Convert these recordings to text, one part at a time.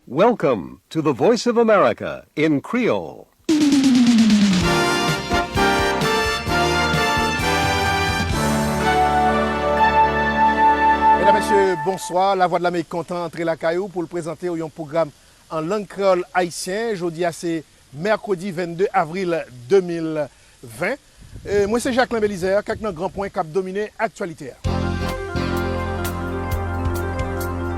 Welcome to the voice of America in Creole. Medam mesye bonswa, la vwa dlamerik kontan antre lakay ou poul prezantew yon pwogram an lang kreyòl ayisyen, jodia se Mèkredi 22 avril 2020, Mwen se Jacquelin Belizaire, kèk nan gran pwen k ap domine aktyalite a.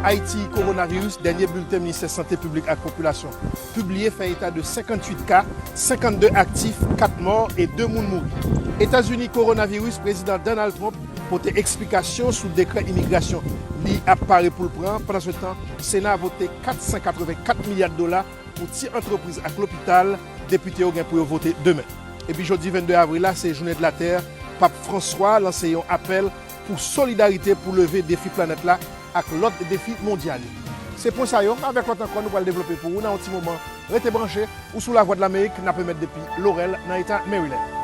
Ayiti, Kowonaviris, Dènye bilten Ministè Sante Piblik ak Popilasyon pibliye fè eta de 58 ka, 52 aktif, 4 mò e 2 moun mouri. Etazini, Kowonaviris, Prezidan Donald Trump pote eksplikasyon sou dekrè imigrasyon li ap pare pou l pran, pandansetan Sena vote 484 milya dola Pou ti antrepriz ak lopital, depite yo gen pou yo vote demen. Epi jodi 22 avril la se jounen de la tè, Pap Franswa lanse yon apèl pou solidarite pou leve defi planèt la ak lòt defi mondyal yo. Se pwen sa yo avèk lòt ankò nou pral devlope pou ou nan yon ti moman. Rete branche, ou sou Lavwadlamerik, n ap emèt depi Lorèl nan eta Maryland.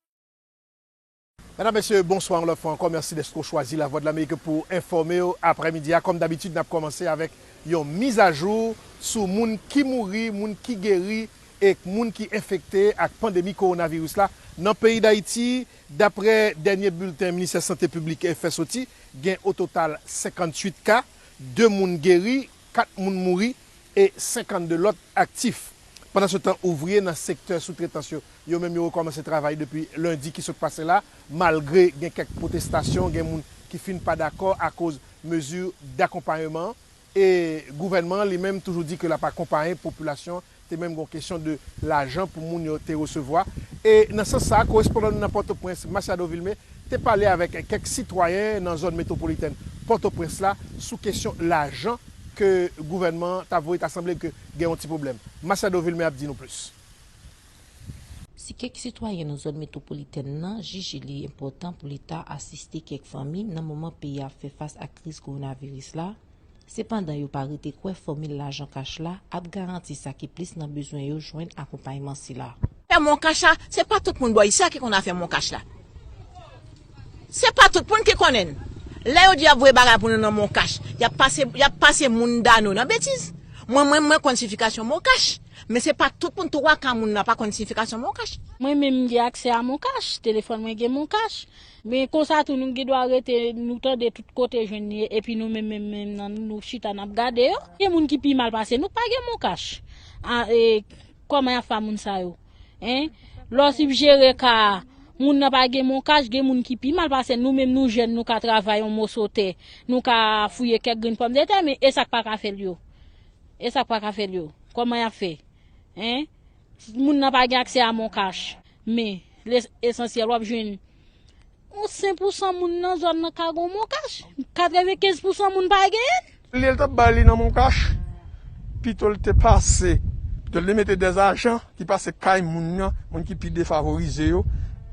Medam, Mesye, bonswa yon lòt fwa ankò. Mèsi dèske w chwazi Lavwadlamerik pou w enfòme w aprèmidi a. Kòm dabitid, n ap kòmanse avèk yon mizajou sou moun ki mouri, moun ki geri ek moun ki enfekte ak pandemi kowonaviris la nan peyi Dayiti. Daprè dènye bilten Ministè Sante Piblik fè soti, gen ototal 58 ka, 2 moun geri, 4 moun mouri e 52 lòt aktif. Pandansetan ouvriye nan sektè soutretans yo, yo menm yo rekòmanse travay depi lendi ki sot pase la, malgre gen kèk pwotestasyon, gen moun ki fin pa dakò akoz mezi dakonpayeman e gouvènman an li menm toujou di ke l ap akonpaye popilasyon Te menm gen yon kesyon de lajan pou moun yo te resevwa. E nan sans sa a, korespondan nou nan Pòtoprens, Masiado Vilmé, te pale avèk kèk sitwayen nan zòn metwopolitèn Pòtoprens la sou kesyon lajan ke gouvènman an t ap voye. Ta sanble ke gen yon ti pwoblèm. Masiado Vilmé ap di nou plis. Si kèk sitwayen nan zòn metwopolitèn nan jije li enpòtan pou Leta asiste kèk fanmi nan moman peyi a ap fè fas ak kriz kowonaviris la, Sepandan yo pa rete kwè fòmil lajan kach la ap garanti sa ki plis nan bezwen yo jwenn akonpayman sila. Fè moncash la se pa tout moun bò isi a ki konn afè moncash la se pa tout moun ki konnen l lè yo di yap voye bagay pou nou nan moncash yap pase yap pase moun dano nan betiz mwen menm mwen konn sifikasyon moncash men se pa tout moun 3 ka moun la pa konn sifikasyon moncash. Mwen menm m gen aksè a moncash telefòn mwen gen moncash. Men konsa tou nou gendwa rete nou tande tout kote jwenn li ye epi nou menm menm menm nan nou chita nap gade yo. Gen moun ki pi mal pase nou pa gen mon kach a e kòman yap fè a moun sa yo hein lè w sibjere ka a moun nan pa gen mon kach gen moun ki pi mal pase nou menm nou jèn nou ka travay yon moso tè nou ka fouye kèk grenn pòm de tè men esak paka fè l yo esak paka fè l yo kòman yap fè hein. Si moun nan pa gen aksè a MonCash, men li esansyèl wap jwenn yon 5 pou 100 moun nan zòn nan ka gon MonCash, 95 pou 100 moun pa genyen. Olye l tap bay li nan MonCash, pito l te pase, pito l te mete 2 ajan ki pase kay moun nan, moun ki pi defavorize yo,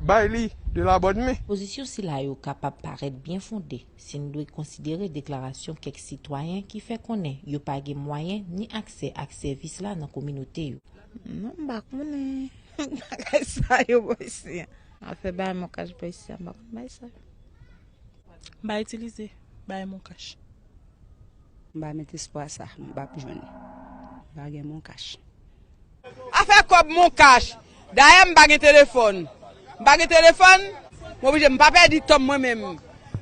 bay li de la bonne main. Pozisyon sila yo kapab parèt byen fonde. Si n dwe konsidere deklarasyon kèk sitwayen ki fè konnen yo pa gen mwayen ni aksè ak sèvis la nan kominote yo. Non m pa konnen bagay sa yo bò isi an. Afè bay mon cash bò isi an m pa konn bagay sa yo. M pa itilize bay mon cash. M pa met espwa sa m pap jwenn. M pa gen mon cash. Afè kòb mon cash. Dayè m pa gen telefòn. M pa gen telefòn. M oblije m pa pèdi tan m mwen menm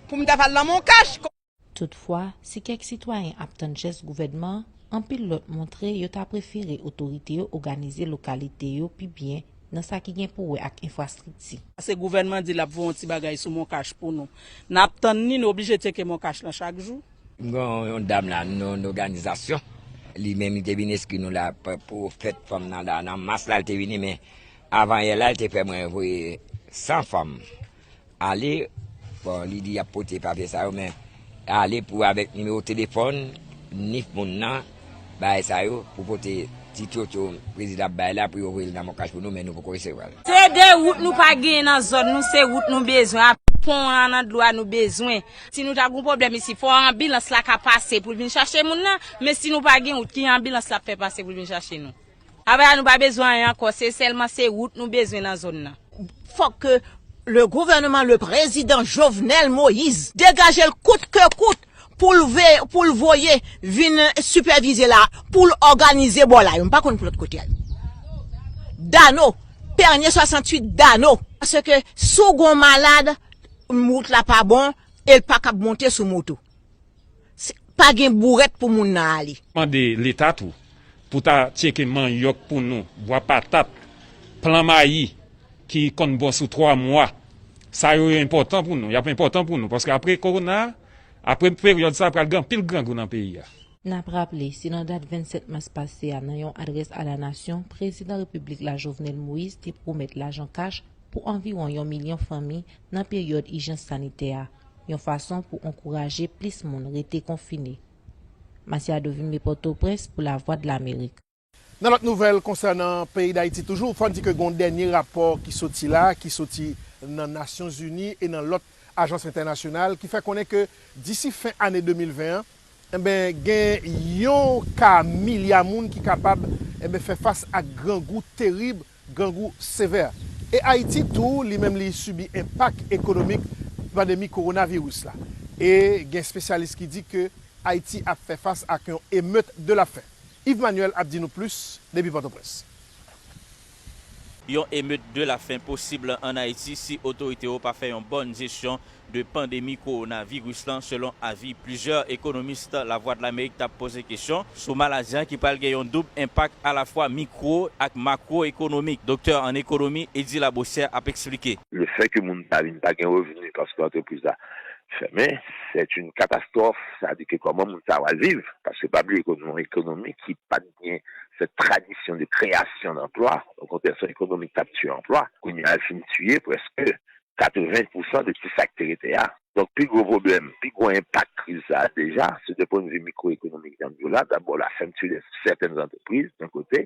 pou m ta fè al nan mon cash. Toutfwa, si kèk sitwayen ap tann jès gouvènman, anpil lòt montre yo ta prefere otorite yo oganize lokalite yo pi byen nan sa ki gen pou wè ak enfrastrikti. Pase gouvènman di l ap voye yon ti bagay sou mon cash pou nou. N ap tann li, nou oblije tcheke mon cash lan chak jou. M gen yon dam la nan yon òganizasyon, li menm li te vin enskri nou la pou fèt fanm nan la, nan mas la li te vini men avanyè la li te fè mwen voye 100 fanm ale, bon li di y ap pote papye sa yo men ale pou avèk nimewo telefòn ni moun nan. bagay sa yo pou pote ti tchotcho prezidan ap bay la pou yo voye l nan monkash pou nou men nou poko resevwa l. Se 2 wout nou pa genyen nan zòn nou se wout nou bezwen ak pon an nan dlo a nou bezwen. Si nou ta gen yon pwoblèm isi fò anbilans la ka pase pou l vin chache moun nan men si nou pa gen wout ki jan anbilans la ap fè pase pou l vin chache nou. Apa sa nou pa bezwen anyen ankò se sèlman se rout nou bezwen nan zone nan. Fòk ke le gouvernement le president Jovenel Moïse degajel kout ke kout poul poul voye vin sipèvize la poul òganize bò la yo m pa konn pou lòt kote a yo Dano Pernier 68 Dano paske si w gon malad rout la pa bon el pakab monte sou moto Si pa gen bouret pou moun nan ale. Mande leta tou pou ta tyeke manyòk pou nou, bwa patat, plan mayi ki konn bon sou 3 mwa. Sa yo yo enpòtan pou nou, yap enpòtan pou nou paske apre kowona, apre peryòd sa pral gen anpil grangou nan peyi a. Nap raple, se nan dat 27 mas pase a nan yon adrès a la nasyon, prezidan repiblik la Jovenel Moïse te pwomèt lajan kach pou anviwon yon milyon fanmi nan peryòd ijans sanitè a. yon fason pou ankouraje plis moun rete konfine. Masiado vin me Pòtoprens pou Lavwadlamerik. Nan lòt nouvèl konsènan peyi Dayiti toujou, fò n di ke gen yon dènye rapò ki soti la, ki soti nan Nasyon Zini e nan lòt ajans entènasyonal ki fè konnen ke disi fen ane 2020 an, enben gen yon ka milya moun ki kapab, enben fè fas ak grangou terib grangou sevè. E Ayiti tou li menm li sibi enpak ekonomik pandemi kowonaviris la. E gen espesyalis ki di ke Ayiti ap fè fas ak yon emeut de la fen. Yves Manuel ap di nou plis depi Pòtoprens. Yon emeut de la fen posib an Ayiti si otorite yo pa fè yon bòn jesyon de pandemi kowonaviris lan selon avi plizyè ekonomist Lavwadlamerik t ap poze kesyon sou maladi an ki pral gen yon doub enpak alafwa mikwo ak makwo ekonomik. Doktè an ekonomi Eddy Labossière ap eksplike. Le fè ke moun ta vin pa gen revni paske antrepriz la fèmen c'est une catastrophe sa di ke kòman moun sa wal viv paske pa bliye ke nou yon ekonomi ki pat gen cette tradition de création d'emploi okontrè son ekonomi k tap tiye anplwa kounye a l fin tiye prèske 80 pousan de ti sa ki te rete a. Donk pi gwo pwoblèm, pi gwo enpak kriz sa a deja, se de pwen de vi mikwoekonomik jan m di w la, dabò la fèmti de sèten zantrepriz yon kote,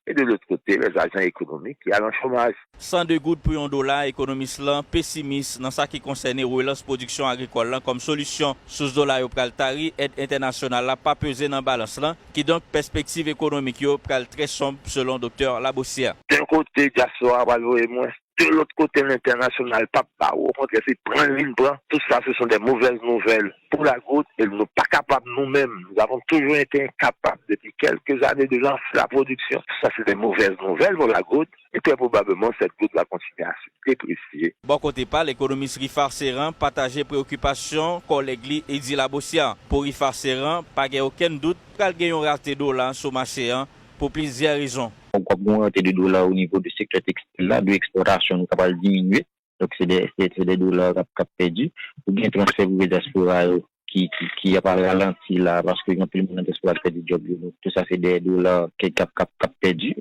e de lòt kote lè ajan ekonomik ki al an chomaj. 102 goud pou yon dola, ekonomis lan pesimis nan sa ki konsène relans pwodiksyon agrikòl lan kòm solisyon, sous dola yo pral tari, èd entènasyonal la pa peze nan balans lan, kidonk pèspektiv ekonomik yo pral trè sonb selon doktè Labossière. Yon kote dyaspora a pral voye mwens De lòt kote lentènasyonal pap ba ou okontrè se pran li n pran tout sa se son dè movèz nouvèl pou la gout e nou pa kapab nou menm nou avon toujou ete enkapab depi kèlke zane de lanse la pwodiksyon tout sa se dè movèz nouvèl pou la gout e trè pwobableman sèt gout va kontinye a se depresye. Bò kote pa l, ekonomis Rifar Ceran pataje preokipasyon kòlèg li Eddy Labossière. Pou Rifar Ceran, pa gen okenn dout pral gen yon rate dola sou mache an pou plizyè rezon. Donk wap gen yon rante de dola o nivo de sektè tekstil la, de ekspòtasyon nou ka pral diminye, donk se de dola kap pèdi. Ou gen transfè prive dyaspora yo ki ap ralanti la paske gen anpil moun nan dyaspora ki pèdi djòb yo, donk tou sa se de dola kap pèdi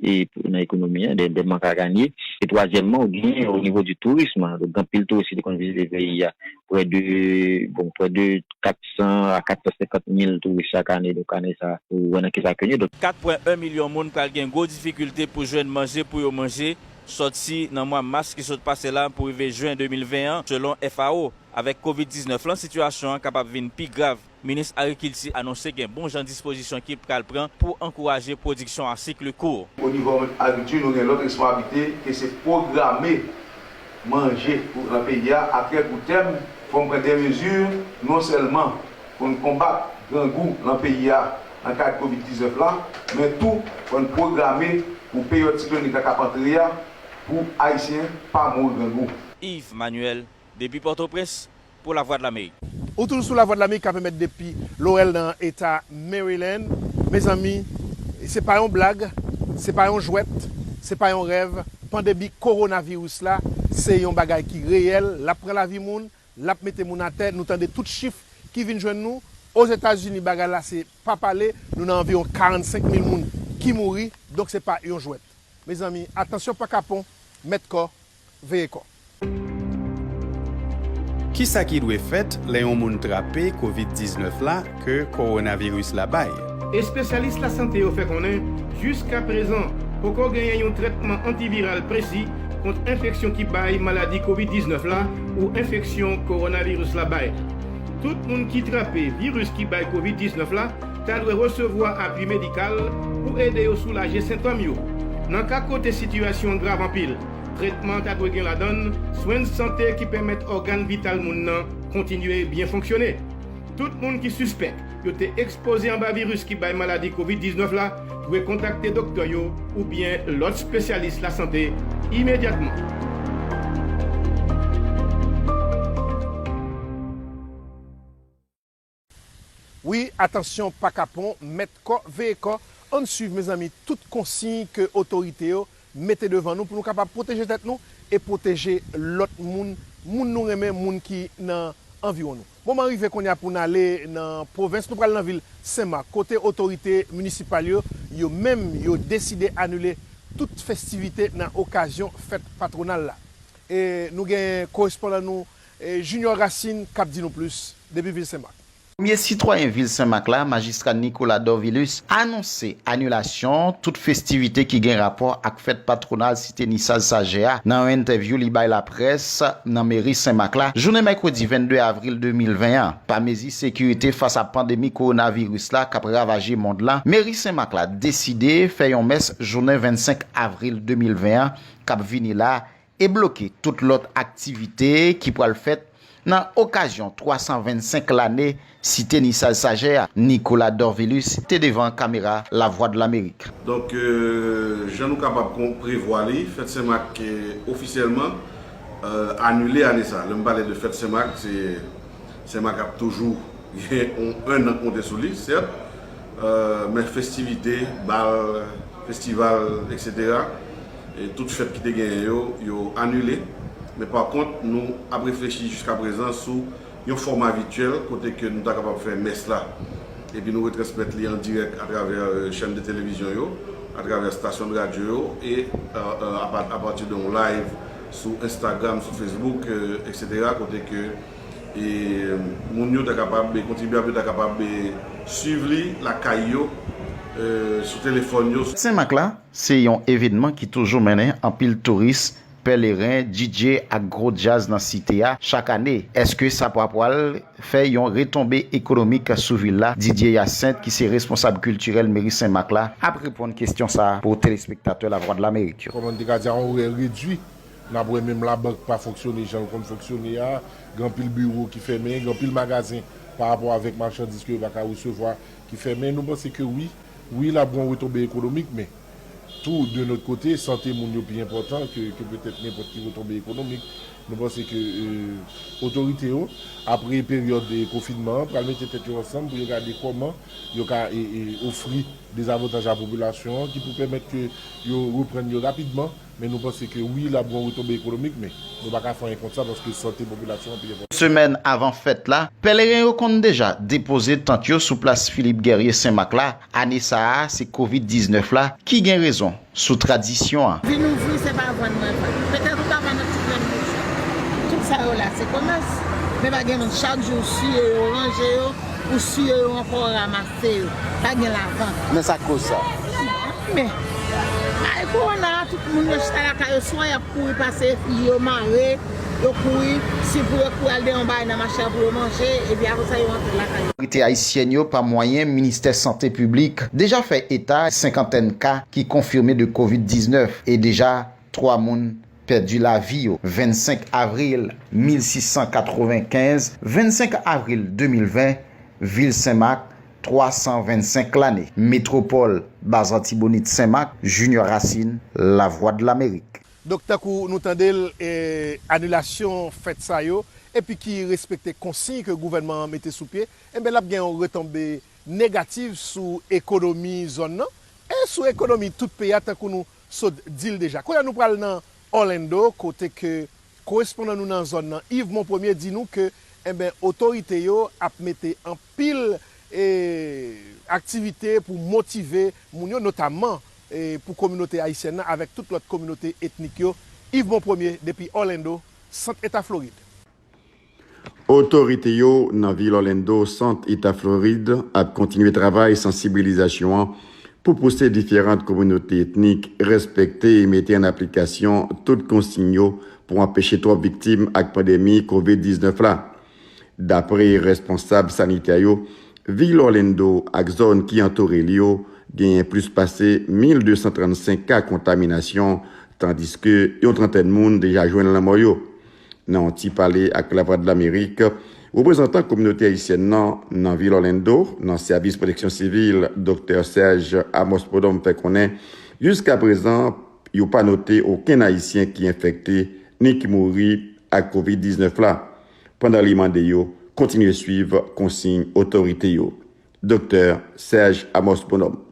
nan ekonomi an, de mank a ganye. E twazyèmman ou gen o nivo di tourism, gen anpil touris ki te konn vizite peyi a, prè de, bon prè de 400 a 450 mil touris chak ane, donk ane sa a ou wè nan ki sa ke nou. 4 pwen 1 milyon moun pral gen gwo difikilte pou jwenn manje pou yo manje sòti nan mwa mas ki sot pase la pou rive jen 2020 an, selon FAO. Avèk kovid 19 lan sitiyasyon an kapab vin pi grav. Minis Agrikilti anonse gen bon jan dispozisyon ki pral pran pou ankouraje pwodiksyon a sikli kour. Onivò agrikti nou gen lòt responsabilite ke se pwograme manje pou nan peyi a atrè kou tèm fò n pran dè mezi non sèlman pou n konbat grangou nan peyi a nan kad kovid 19 la men tou fò n pwograme pou peryòd siklònik la k ap antre a pou ayisyen pa mouri grangou. Yves Manuel, depi Pòtoprens, pou Lavwadlamerik. Ou toujou sou Lavwadlamerik ka pèmèt depi Laurel nan eta Maryland. Mezanmi se pa yon blag, se pa yon jwèt, se pa yon rèv, pandemi kowonaviris la se yon bagay ki reyèl, l ap pran lavi moun, l ap mete moun atè, nou tande tout chif ki vin jwenn nou. Ozetazini bagay la se pa pale, nou nan anviwon 45 mil moun ki mouri, donk se pa yon jwèt. Mezanmi atansyon pa kapon, mèt kò, veye kò. Kisa ki dwe fèt lè yon moun trape Covid 19 la ke kowonaviris la bay? Espesyalis lasante yo fè konnen jiska prezan poko genyen yon trètman antiviral presi kont enfeksyon ki bay maladi Covid 19 la ou enfeksyon kowonaviris la bay. Tout moun ki trape viris ki bay Covid 19 la ta dwe resevwa apui medikal pou ede yo soulaje sentòm yo nan ka kote sitiyasyon an grav anpil. Tretman an ta dwe gen ladan swen sante ki pèmèt ògàn vital moun nan kontinye byen fonksyone. Tout moun ki sispèk yo te ekspoze anba viris ki bay maladi covid 19 la dwe kontakte doktè yo oubyen lòt spesyalis lasante imedyatman. Wi atansyon pa kapon mèt kò veye kò ann swiv mezanmi tout konsiy ke otorite yo mete devan nou pou nou kapab pwoteje tèt nou e pwoteje lòt moun moun nou renmen moun ki nan anviwon nou moman rive konnya pou n ale nan pwovens nou pral nan vil sen mak kote otorite minisipal yo yo menm yo deside anile tout festivite nan okazyon fèt patwonal la e nou gen korespondan nou E Junior Racine kap di nou plis depi vil Senmak. Premye sitwayen vil Senmak la, Majistra Nicolas Dorvilus anonse anilasyon tout festivite ki gen rapò ak fèt patwonal Site Nisaz Sajè a nan yon entèvyou li bay laprès nan Meri Senmak la jounen mèkredi 22 avril 2020 an. Pa mezi sekirite fas a pandemi kowonaviris la kap ravaje mond lan, Meri Senmak la deside fè yon mès jounen 25 avril 2020 an kap vini la e bloke tout lòt aktivite ki pral fèt nan okazyon 325 lane Site Nisaj Sajè a, Nicolas Dorvilus te devan kamera Lavwadlamerik. Donk, jan nou kapab prevwa li, fèt Sen Mak ofisyèlman anile ane sa. Lè m pale de fèt Sen Mak, se Sen Mak ap toujou gen yon ennan konte sou li, sèt, men festivite, bal, festival, eksetera. Tout fèt ki te genyen yo, yo anile. Men pa kont, nou ap reflechi jiska prezan sou yon fòma vityèl kote ke nou ta kapab fè mès la epi nou retransmèt li an dirèk atravè chèn de televizyon yo, atravè stasyon de radyo yo e apati de yon live sou Instagram, sou Facebook, etc. Kote ke moun yo ta kapab, kontribyab yo ta kapab swiv li lakay yo, sou telefòn yo. Senmak la, Se yon evenman ki toujou mennen anpil touris, pèleren, DJ ak gwo djaz nan site a chak ane. Eske sa pa pwal fè yon retonbe ekonomik sou vil la? Didier Hyacinthe ki se responsab kiltirèl meri Senmak la ap reponn kestyon sa pou telespektatè Lavwadlamerik yo. Kòman n te ka di a orè redwi, n ap wè menm labank pa fonksyone jan l konn fonksyone a, gen anpil biwo ki fèmen, gen anpil magazen pa rapò avèk machandiz ke yo pa ka resevwa ki fèmen. Nou panse ke wi. Wi l ap gon retonbe ekonomik men tou de lòt kote sante moun yo pi enpòtan ke petèt nenpòt ki retonbe ekonomik. Nou panse ke otorite yo apre peryòd konfinman an pral mete tèt yo ansanm pou yo gade kòman yo ka ofri dezavantaj a popilasyon an ki pou pèmèt ke yo reprann yo rapidman. Men nou panse ke wi lap gon retonbe ekonomik men nou pa ka fè anyen kont sa paske sante popilasyon an pi enpòtan. Semèn avan fèt la, pèleren yo konn deja depoze tant yo sou plas Philippe Guerrier Senmak la, ane sa a se kovid 19 la ki gen rezon sou tradisyon an. Vin ouvri se pa vann mwen vann. Petèt ou ka vann yon ti grenn bouchon. Tout sa yo la se komès. Men pa gen moun chak jou ou siye yo, ranje yo, ou siye yo ankò ou ramase. Se yo. Pa gen lavan. Men sak koz sa. Men. Ay corona a tout moun yo chita lakay yo swa yap kouri pase fi yo mare yo kouri si pou yo kouri al de yon bagay nan mache a pou yo manje epi apre sa yo antre lakay yo. Otorite ayisyèn yo pa mwayen ministè sante piblik deja fè eta senkantèn ka ki konfime de covid 19 e deja 3 moun Pèdi lavi yo 25 avril 1695, 25 avril 2020, Vil Senmak, 325 lane, Metwopòl, Baz Antibonit Senmak, Junior Racine, Lavwadlamerik. Donk tankou nou tande l, anilasyon fèt sa yo, epi ki respekte konsiy ke gouvènman an mete sou pye, enben l ap gen yon retonbe negatif sou ekonomi zòn nan, e sou ekonomi tout peyi a tankou nou Sot dil deja. Kounye a nou pral nan Orlando kote ke korespondan nou nan zòn nan Yves Monpremier di nou ke enben otorite yo ap mete anpil aktivite pou motive moun yo notamman pou kominote ayisyèn nan avèk tout lòt kominote etnik yo. Yves Monpremier depi Orlando, sant eta Floride. Otorite yo nan vil Orlando, sant Eta Florid, ap kontinye travay sansibilizasyon an pou pouse diferant kominote etnik respekte e mete an aplikasyon tout konsign yo pou anpeche twòp viktim ak pandemi Covid 19 la. Dapre responsab sanitè yo, vil Orlando ak zòn ki antoure li yo genyen plis pase 1,235 ka kontaminasyon tandiske yon trantèn moun deja jwenn lanmò yo. Nan yon ti pale ak Lavwadlamerik, reprezantan kominote ayisyèn nan nan vil Orlando nan Sèvis Pwoteksyon Sivil, Doktè Serge Amos Prud'homme fè konnen jiska prezan yo pa note okenn ayisyen ki enfekte ni ki mouri ak kovid 19 la, pandan li mande yo kontinye swiv konsiy otorite yo. Doktè Serge Amos Prud'homme.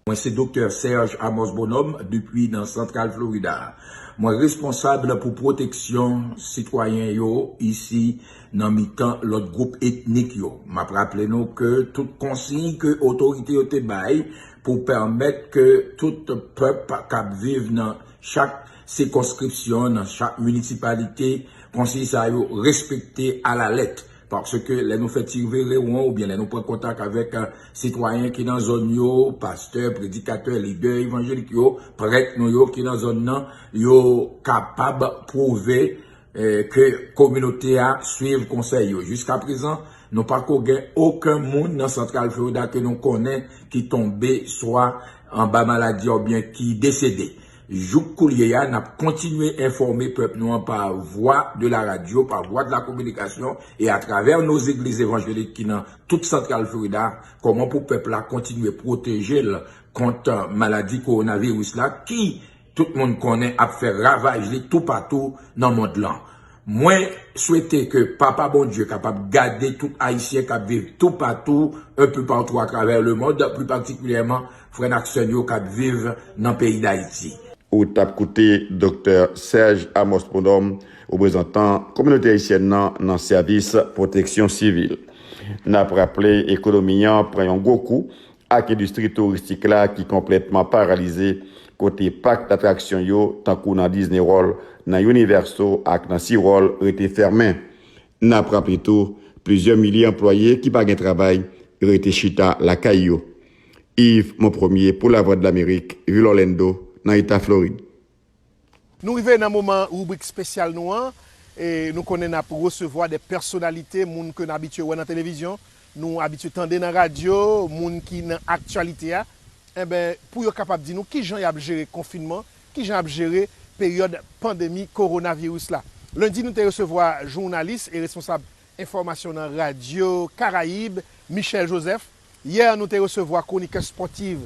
Mwen se Doktè Serge Amos Bonhomme depi nan Santral Florida. Mwen responsab pou pwoteksyon sitwayen yo isi nan mitan lòt gwoup etnik yo. M ap raple nou ke tout konsiy ke otorite yo te bay pou pèmèt ke tout pèp k ap viv nan chak sikonskripsyon, nan chak minisipalite, konsiy sa yo respekte alalèt. Paske lè nou fè ti rive rewon oubyen lè nou pran kontak avèk sitwayen ki nan zòn yo, pastè, predikatè, lidè evanjelik yo, prèt nou yo ki nan zòn nan, yo kapab pwouve ke kominote a swiv konsèy yo. Jiskaprezan, nou pa ko gen oken moun nan Santral Florida ke nou konnen ki tonbe swa anba maladi a oubyen ki desede. Jouk koulye a, n ap kontinye enfòme pèp nou an pa vwa de la radyo, pa vwa de la kominikasyon e atravè no zegliz evanjelik ki nan tout Santral Florida, kòman pou pèp la kontinye pwoteje l kont maladi kowonaviris la ki, tout moun konnen, ap fè ravaj li toupatou nan mond lan. Mwen swete ke Papa Bondye kapab gade tout Ayisyen k ap viv toupatou, un peu partout à travers le monde, plus particulièrement frè n ak sè n yo k ap viv nan peyi Dayiti. Ou t ap koute Doktè Serge Amos Prud'homme, reprezantan kominote ayisyèn nan nan sèvis pwoteksyon sivil. N ap raple ekonomi an pran yon gwo kou ak endistri touristik la ki konplètman paralize, kote pak datraksyon yo, tankou nan Disney World, nan Universo ak nan Sea World, rete fèmen. N ap raple tou, plizyè milye anplwaye ki pa gen travay rete chita lakay yo. Yves Monpremier pou Lavwadlamerik, vil Orlando, nan eta Florid. Nou rive nan moman ribrik spesyal nou an e nou konnen nap resevwa de pèsonalite, moun ke n abitye wè nan televizyon, nou abitye tande nan radyo, moun ki nan aktyalite a enben pou yo kapab di nou kijan yap jere konfinman, kijan yap jere peryòd pandemi kowonaviris la. Lendi nou te resevwa jounalis e responsab enfòmasyon nan radyo Karayib, Michel Joseph. Yè nou te resevwa kronikè spòtiv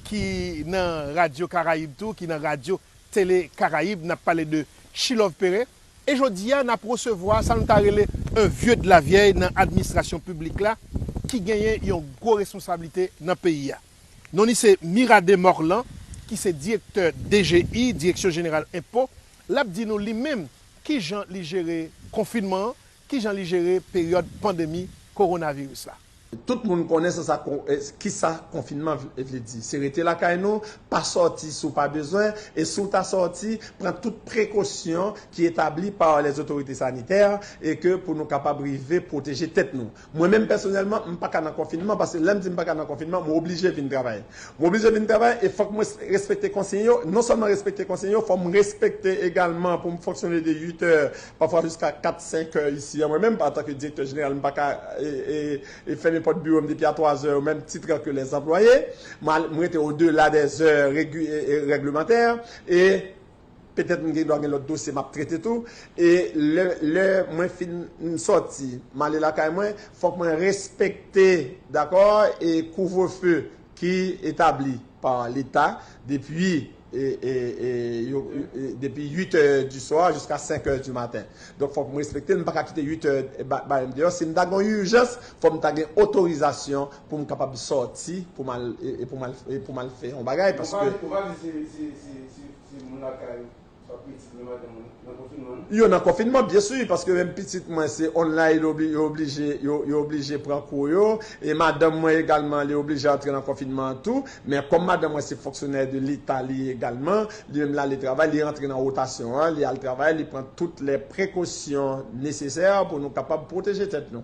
ki nan Radyo Karayib tou, ki nan Radyo Tele Karayib, n ap pale de Chilove Pere. E jodi a n ap resevwa sa nou ta rele un vieux de la vieille nan administrasyon piblik la ki genyen yon gwo responsablite nan peyi a. Non li se Mirade Morlan ki se direktè DGI, Direksyon Jeneral Enpo. L ap di nou li menm ki jan li jere konfinman an, Ki jan li jere peryòd pandemi Kowonaviris la? Tout moun konnen sa sa ki sa konfinman vle di. Se rete lakay nou, pa sòti si w pa bezwen, e si w ta sòti, pran tout prekosyon ki etabli pa lèzotorite sanitè e ke pou nou kapab rive pwoteje tèt nou. Mwen menm pèsonèlman, m pa ka nan konfinman paske lè m di m pa ka nan konfinman, m oblije vin travay. M oblije vin travay e fòk mwen respekte konsiy yo. Non sèlman respekte konsiy yo, fò m respekte egalman pou m fonksyone de 8 è pafwa jiska 4, 5 è isi a. Mwen menm, antanke direktè jeneral, m pa ka fèmen pòt biwo m depi a 3 zè, o menm tit la ke lèzanplwaye. M rete odela dè zè règlemantè e petèt m gen dwa gen lòt dosye m ap trete tou. E lè mwen fin sòti, m ale lakay mwen, fòk mwen respekte, dakò, kouvrefe ki etabli pa leta depi depi 8 è di swa jiska 5 è di maten donk fòk m respekte l m pa ka kite 8 è bare m deyò si m ta gen yon ijans fòk m ta gen otorizasyon pou m kapab sòti pou m al fè yon bagay paske. Ou pa di se moun lakay ou. Yo nan konfinman byen su paske menm pitit mwen se online yo oblije yo oblije pran kou yo e madanm mwen egalman li oblije antre nan konfinman an tou men kòm madanm mwen se fonksyonè de leta li egalman li menm lale travay li rantre nan wotasyon an li al travay li pran tout lè prekosyon nesesè pou nou kapab pwoteje tèt nou.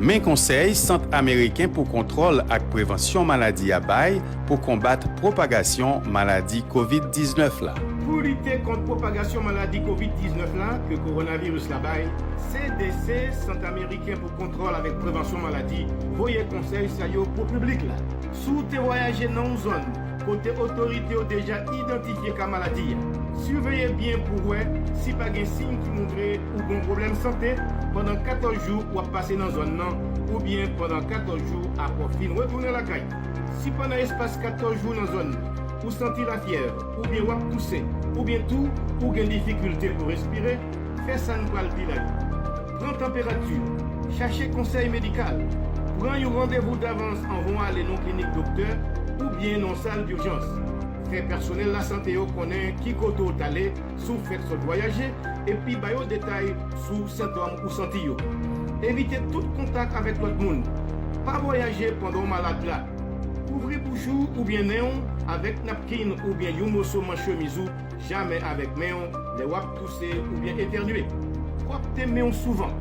Men konsèy Sant Ameriken pou Kontwòl ak Prevansyon Maladi a bay pou konbat pwopagasyon maladi kovid 19 la. Pou lite kont pwopagasyon maladi kovid 19 la ke kowonaviris la bay, CDC, Sant Ameriken pou Kontwòl avèk Prevansyon Maladi, voye konsèy sa yo pou piblik la. Si w te vwayaje nan yon zòn, Kote otorite yo deja idantifye ka maladi a. Siveye byen pou wè si pa gen siy ki montre ou gon pwoblèm sante pandan 14 jou w ap pase nan zòn nan oubyen pandan 14 jou apre w fin retounen lakay. Si pandan espas 14 jou nan zòn nan, ou santi lafyèv oubyen w ap touse oubyen tou ou gen difikilte pou respire, fè sa n pral di la yo. Pran tanperati, chache konsèy medikal, pran yon randevou davans anvan w ale nan yon klinik doktè oubyen nan yon sal durjans. Fè pèsonèl lasante yo konnen ki kote w t ale si w fèk sot vwayaje epi ba yo detay sou sentòm ou santi yo. Evite tout kontak avèk lòt moun. Pa vwayaje pandan w malad la. Kouvri bouch ou oubyen nen w avèk napkin oubyen yon moso manch chemiz ou Jamè avèk men w lè w ap touse oubyen etènye. Pwòpte men w souvan.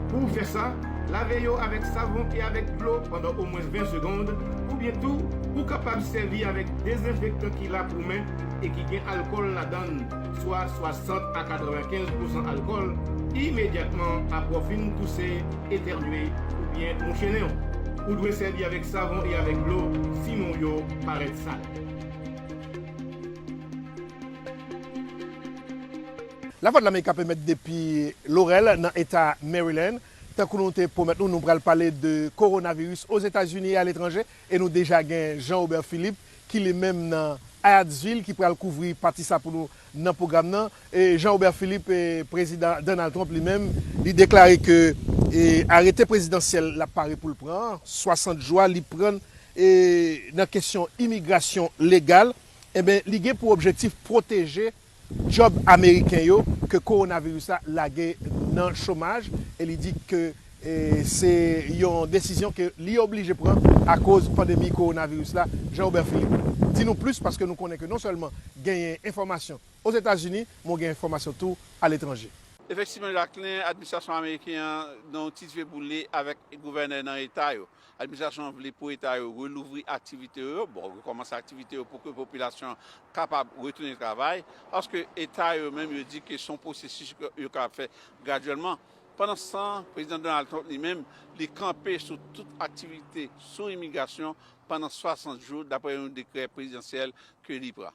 Pou w fè sa, lave yo avèk savon e avèk dlo pandan omwens 20 segond, oubyen tou ou kapab sèvi avèk dezenfektan ki la pou men e ki gen alkòl ladan l, swa 60 a 95 pousan alkòl, imedyatman apre w fin touse, etènye, oubyen mouche nen w. Ou dwe sèvi avèk savon e avèk dlo si men w yo parèt sal. Lavwadlamerika pèmèt depi Laurel nan eta Maryland. Tankou nou te pwomèt nou, nou pral pale de Kowonaviris Ozetazini e aletranje e nou deja gen Jean Robert Philippe ki li menm nan Hyattsville ki pral kouvri pati sa pou nou nan pwogram nan. Jean Robert Philippe, Prezidan Donald Trump li menm, li deklare ke arete prezidansyèl lap pare poul pran an, 60 jou a li pran nan kesyon imigrasyon legal. Enben, li gen pou objektif pwoteje djòb ameriken yo ke kowonaviris la lage nan chomaj e li di ke se yon desizyon ke li oblije pran akoz pandemi kowonaviris la. Jean Robert Philippe, di nou plis paske nou konnen ke non sèlman genyen enfòmasyon Ozetazini, men ou gen enfòmasyon tou aletranje. Efektivman Jacquelin, administrasyon ameriken an gen yon ti dife boule avèk gouvènè nan eta yo. Administrasyon an vle pou eta yo relouvri aktivite yo, bon, rekòmanse aktivite yo pou ke popilasyon an kapab retounen travay, paske eta yo menm yo di ke se yon pwosesis yo kapab fè gradyèlman. Pandanstan, Prezidan Donald Trump li menm, li kanpe sou tout aktivite sou imigrasyon pandan 60 jou, dapre yon dekrè prezidansyèl ke li pran.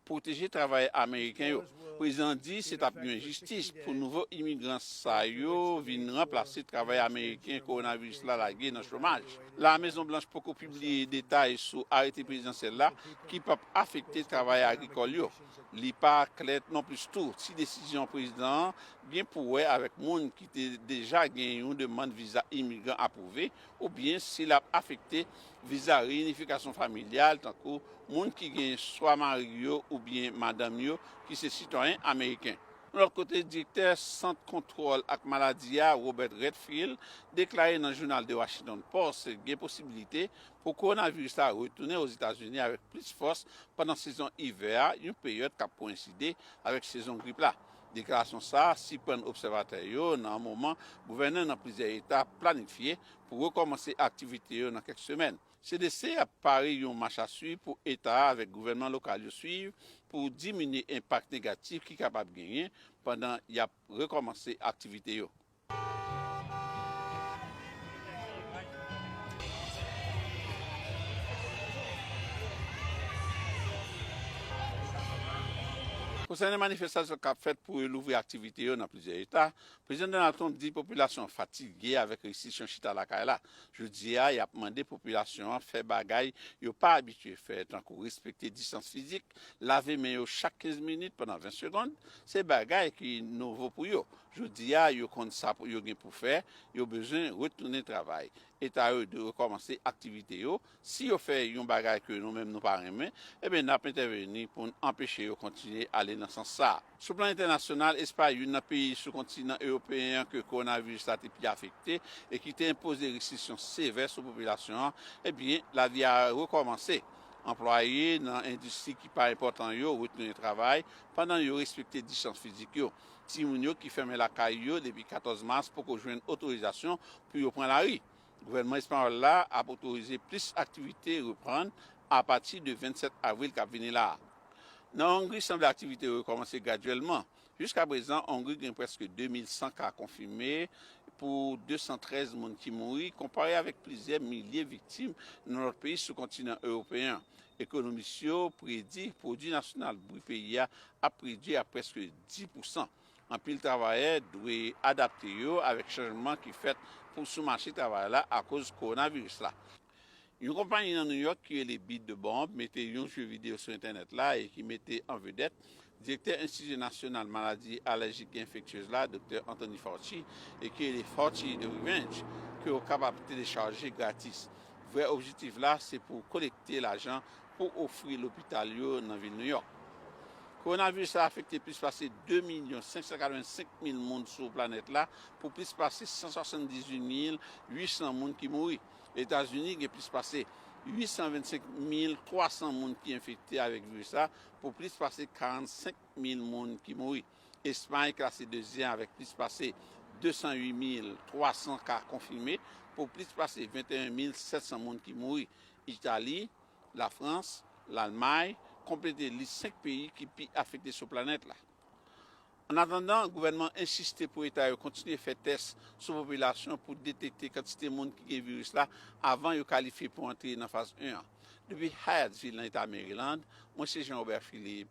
pwoteje travayè ameriken yo. Prezidan an di se t ap yon enjistis pou nouvo imigran sa yo vin ranplase travayè ameriken kowonaviris la lage nan chomaj. La Mezon Blanch poko pibliye detay sou arete prezidansyèl la ki p ap afekte travayè agrikòl yo. Li pa klè nonplis tou si desizyon prezidan an gen pou wè avèk moun ki te deja gen yon demann viza imigran apwouve oubyen si l ap afekte viza reyinifikasyon familyal, tankou moun ki gen swa mari yo oubyen madanm yo ki se sitwayen ameriken. Yon lòt kote, direktè Sant Kontwòl ak Maladi a, Robert Redfield, deklare nan jounal The Washington Post gen posibilite pou kowonaviris la retounen Ozetazini avèk plis fòs pandan sezon ivè a, yon peryòd k ap koyenside avèk sezon grip la. Deklarasyon sa a siprann obsèvatè yo nan moman gouvènè nan plizyè eta planifye pou rekòmanse aktivite yo nan kèk semèn. CDC ap pare yon machaswiv pou eta a avèk gouvènman lokal yo swiv pou diminye enpak negatif ki kapab genyen pandan y ap rekòmanse aktivite yo. Konsènen manifestasyon k ap fèt pou yo louvri aktivite yo nan plizyè eta, Prezidan Donald Trump di popilasyon an fatige avèk restriksyon chita lakay la. Jodi a, y ap mande popilasyon an fè bagay yo pa abitye fè, tankou respekte distans fizik, lave men yo chak 15 minit pandan 20 segond, se bagay ki nouvo pou yo, Jodi a, yo konn sa yo gen pou fè, yo bezwen retounen travay. Eta yo dwe rekòmanse aktivite yo. Si yo fè yon bagay ke nou menm nou pa renmen, enben n ap entèveni pou n anpeche yo kontinye ale nan sans sa a. Sou plan entènasyonal, Espay, youn nan peyi sou kontinan ewopeyen an ke kowonaviris la te pi afekte e ki te enpoze restriksyon sevè sou popilasyon an, enben lavi a rekòmanse. Anplwaye nan endistri ki pa enpòtan yo retounen travay, pandan yo respekte distans fizik yo. Timoun yo ki fèmen lakay yo depi 14 mas poko jwenn otorizasyon pou yo pran lari. Gouvènman espanyòl la ap otorize plis aktivite reprann apati de 27 avril kap vini la. Nan Ongri sanble aktivite yo rekòmanse gradyèlman. Jiska prezan Ongri gen prèske 2100 ka konfime pou 213 moun ki mouri konpare avèk plizyè milye viktim nan lòt peyi sou kontinan ewopeyen an. Ekonomis yo predi pwodui nasyonal brut peyi a ap redui ak prèske 10 pousan. Anpil travayè dwe adapte yo avèk chanjman ki fèt pou sou mache travay la akoz kowonaviris la. Yon konpayi nan Nouyòk ki rele Beat the Bomb mete yon jeu video sou entènèt la e ki mete an vedèt Direktè Enstiti Nasyonal Maladi Alèjik e Enfektyez la, Doktè Anthony Fauci, ekri e li Fauci The Revenge, ke ou kapab telechaje gratis. Vrè objitif la se pou kolekte lajan pou ofri lopital yo nan vil New York. Kowonaviris la afekte plis pase 2 milyon 585 mil moun sou planèt la pou plis pase 178 mil 800 moun ki mouri. Etazini gen plis pase 825 mil 300 moun ki enfekte avèk viris la Pou plis pase 45 mil moun ki mouri, Espay klase dezyèm avèk plis pase 208 mil 300 ka konfime pou plis pase 21 mil 700 moun ki mouri. Itali, Lafrans, Lalmay konplete lis 5 peyi ki pi afekte sou planèt la. Annatandan, gouvènman an ensiste pou eta yo kontinye fè tès sou popilasyon pou detekte kantite moun ki gen viris la avan yo kalifye pou antre nan faz 1 an. Depi Hyattsville nan eta Maryland, mwen se Jean Robert Philippe,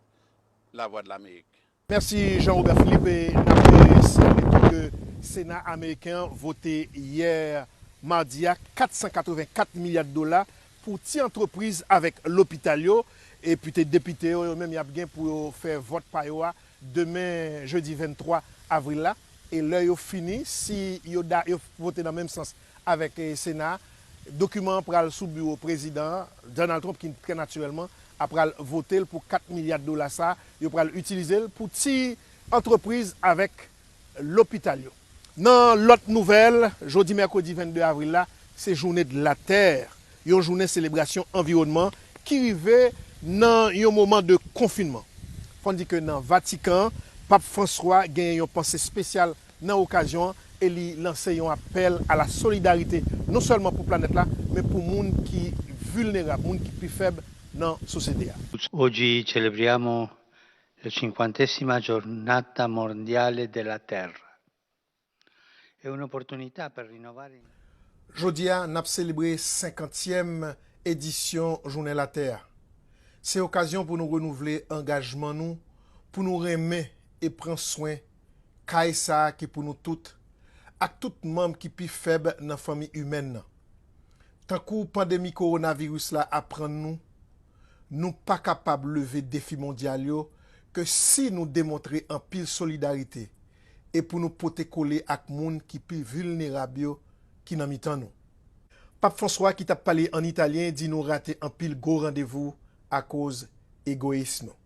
Lavwadlamerik. Mèsi Jean Robert Philippe, n ap sinyale tou ke Sena ameriken an vote yè madi a 484 milya dola pou ti antrepriz avèk lopital yo epi te depite yo yo menm y ap gen pou yo fè vòt pa yo a demen jedi 23 avril la e lè yo fini si yo da yo vote nan menm sans avèk sena a dokiman an pral sou biwo prezidan an Donald Trump ki trè natirèlman a pral vote l pou 4 milya dola sa a yo pral itilize l pou ti antrepriz avèk. lopital yo. Nan lòt nouvèl, jodi mèkredi 22 avril la, se Journée de la Terre, yon jounen selebrasyon anviwònman ki rive nan yon moman de konfinman. Fò n di ke nan Vatikan, Pap Franswa genyen yon panse spesyal nan okazyon an e li lanse yon apèl a la solidarite non sèlman pou planèt la, men pou moun ki vilnerab, moun ki pi fèb nan sosyete a. Oggi celebriamo La cinquantesima giornata mondiale della terra è un'opportunità per rinnovare il. Jodi a, n ap selebre senkantyèm edisyon Jounen Latè a. Se okazyon pou nou renouvle angajman nou pou nou renmen e pran swen kay sa a ki pou nou tout, ak tout manm ki pi fèb nan fanmi imèn nan. Tankou pandemi kowonaviris la aprann nou, Nou pa kapab leve defi mondyal yo ke si nou demontre anpil solidarite e pou nou pote kole ak moun ki pi vilnerab yo ki nan mitan nou. Pap François ki tap pale an italyen di nou rate anpil gwo randevou akoz egoyis nou.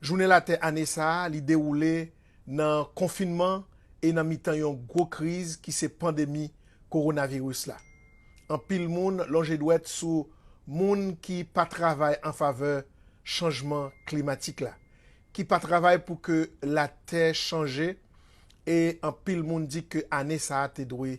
Jounen Latè ane sa a li dewoule nan konfinman e nan mitan yon gwo kriz ki se pandemi kowonaviris la. Anpil moun lonje dwèt sou moun ki pa travay an favè chanjman klimatik la, ki pa travay pou ke latè chanje e anpil moun di ke ane sa a te dwe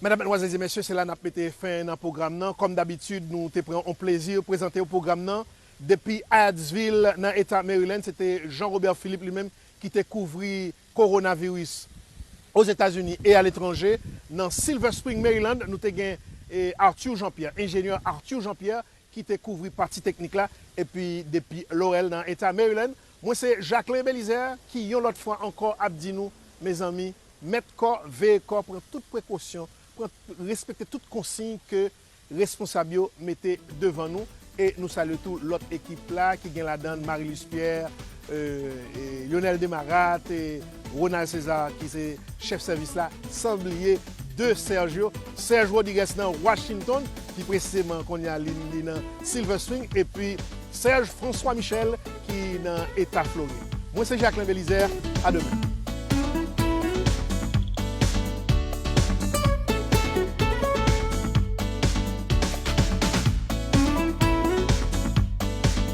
Medam, Medmwazèl, Zye Mesye, se la nap mete fen nan pwogram nan. Kòm dabitid, nou te pran on plezi prezante ou pwogram nan. Depi Hyattsvil nan Eta Maryland, se te Jean Robert Philippe li menm ki te kouvri Coronavirus Ozetazini e aletranje. Nan Silver Spring, Maryland, nou te gen Arthur Jean Pierre, Enjenyè Arthur Jean Pierre, ki te kouvri pati teknik la epi depi Laurel nan eta Maryland mwen se Jacquelin Belizaire ki yon lòt fwa ankò ap di nou mezanmi mèt kò veye kò pran tout prekosyon pran respekte tout konsiy ke responsab yo mete devan nou e nou salye tou lòt ekip la ki gen ladann Marilus Pierre Lyonel Desmarattes e Ronald César ki se chèf sèvis la san bliye de Serge yo, Serge Rodrigues nan Washington pi presizeman kounye a li nan Silver Spring epi Serge François Michel ki nan eta Florid. Mwen se Jacquelin Belizaire, a demen.